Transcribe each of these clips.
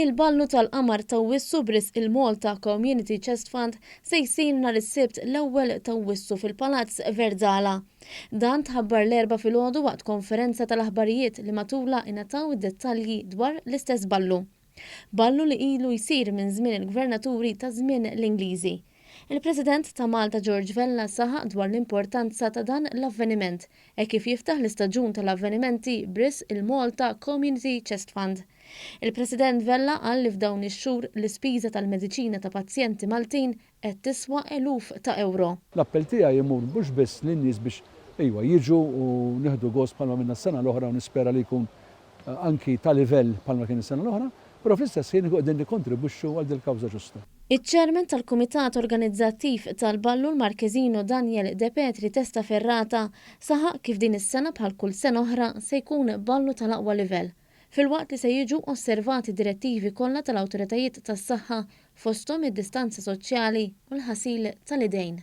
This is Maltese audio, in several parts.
Il-balnu tal-qamar t'Awwissu b'risq il-Malta Community Chest Fund se jsir nhar is-Sibt l-ewwel t'Awwissu fil-Palazz Verdala. Dan tħabbar l-Erbgħa filgħodu waqt konferenza tal-aħbarijiet li matulha ingħataw id-dettalji dwar l-istess balnu. Ballu li ilu jsir minn żmien il-gvernaturi ta' żmien l-Ingliżi. Il-President ta' Malta George Vella saħaq dwar l-importanza ta' dan l-avveniment hekk kif jiftaħ l-istaġun tal-avvenimenti b'risq il-Malta Community Chest Fund. Il-President Vella qal li f'dawn ix-xhur l-ispiża tal-mediċina ta' pazjenti Maltin qed tiswa eluf ta' ewro. L-appell tiegħi imur mhux biss lin-nies biex, ejwa, jiġu u nieħdu gost bħalma għamilna s-sena l-oħra u nispera li jkun anki ta' livell bħalma kien is-sena l-oħra, però fl-istess ħin inkunu qegħdin nikkontribwixxu għal dil-kawża ġusta. Iċ-Chairman tal-Kumitat Organizzattiv tal-Balloon Marquesino Daniel De Petri Testa Ferrata saħaq kif din is-sena bħal kull sena oħra se jkun ballu tal-aqwa livell, filwaqt li se jiġu osservati d-direttivi kollha tal-awtoritajiet tas-saħħa, fosthom id-distanza soċjali u l-ħasil tal-idejn.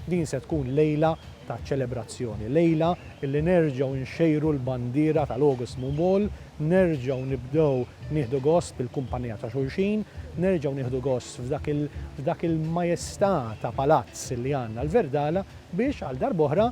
Din se tkun lejla ta' ċelebrazzjoni, lejla li nerġgħu nxejru l-bandiera tal-August Moon Ball, nerġgħu nibdew nieħdu gost bil-kumpanija ta' xulxin, nerġgħu nieħdu gost f'dak il-majestà ta' palazz li għandna l-Verdala biex għal darb'oħra,